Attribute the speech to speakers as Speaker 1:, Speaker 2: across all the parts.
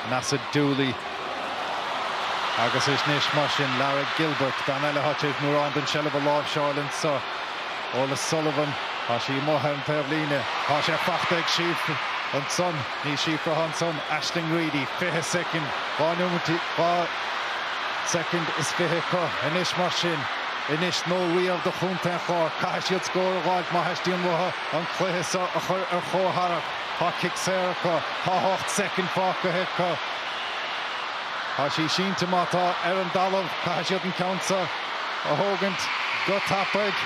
Speaker 1: Measadh Dooley agus is anois mar sin Lara Gilbert, bean eile a thosaigh ag mórán den seilbh a láimhseáil anseo. Orla Sullivan, tá sí amuigh ar an taobhlíne. Tá sí faighte ag Síofra ansan, ní Síofra atá ansan, Aisling Reedy. 20 soicind, dhá soicind is fiche acu anois mar sin. Anois nó riamh do Chontae an Chláir. Caithfidh siad scór a dh'fháilt má theastaíonn uathu an chluiche seo a chur ar chomhscór. Tá cic saor acu. Tá ocht soicind fágtha acu. Tá sí sínte má tá ar an dtalamh. Caithfidh siad an ceann seo a thógaint go tapaidh.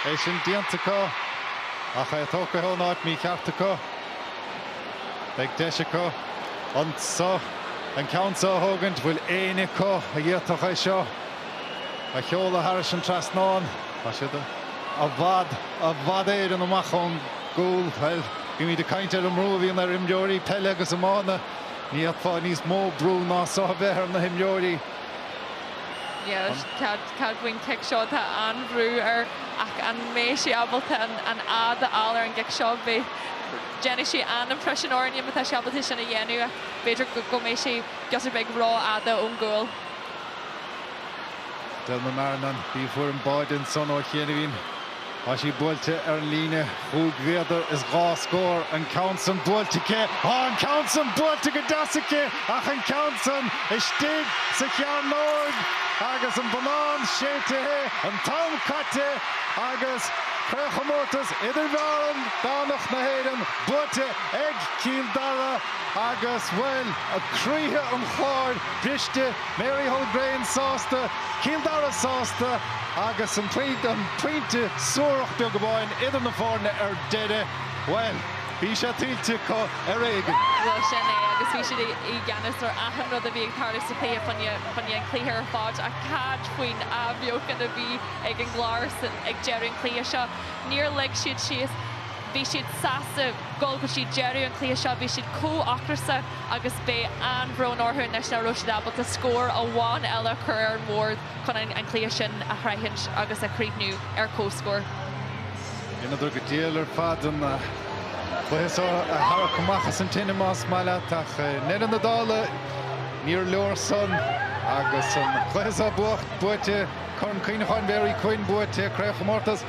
Speaker 1: É sin déanta acu ach é tógtha ón áit mícheart acu. Beidh deis acu anso an ceann seo a thógaint. Bhfuil éinne acu a d'fhéadfadh é seo? a sheoladh thar an trasnán. Tá siad i bhfad, i bhfad Éireann amach ón gcúl. Bhuel, bímid ag caint ar an mbrú a bhíonn ar imreoirí peile agus iomána. Ní fheicfeá níos mó brú ná seo a bheith ar na himreoirí. Cad faoin gcic seo, tá an-bhrú air ach an mbeidh sé ábalta an fhad a fháil ar an gcic seo? Déanfaidh sé an-imprisean orainne má tá sé ábalta sin a dhéanamh ach b'fhéidir go mbeidh sé giota beag rófhada ón gcúl. Dell na mBearnán, bhí Eithne báid ansan ó chiainibhín. Tá sí buailte ar an líne chúig mhéadar is dhá scór. An ceann san buailte aici. Tá an ceann san buailte go deas aici, ach an ceann san istigh sa chearnóig agus an bonnán séidtithe, an t-am caite agus Craobhchomórtas Idirmheánach na hÉireann buaite ag Cill Dara agus, bhuel, croíthe an Chláir briste. Mary Hulgraine sásta, Cill Dara sásta agus an pointe suarach beag amháin idir na foirne ar deireadh. Bhuel, bhí sé tuillte acu ar éigean. Bhuel, sin é agus bhí siad i gceannas ar achan rud a bhí ag tarlú sa chluiche, choinnigh an cluiche ar fad, ach cad faoin athbheochan a bhí ag an gClár ansan ag deireadh an chluiche seo? Níor lig siad síos. Bhí siad sásta dul go dtí deireadh an chluiche seo, bhí siad chomh hocrasach agus beidh an-bhrón orthu anois nach raibh siad ábalta scór amháin eile a chur ar an mbord chun an cluiche sin a shroichint agus a chríochnú ar comhscór. Dheineadar go diail ar fad an cluiche seo a tharrac amach as an tine más maith leat ach i ndeireadh na dála níor leor san agus an cluiche seo buaite, Corn Cuimhneacháin Mary Quinn buaite, Craobhchomórtas.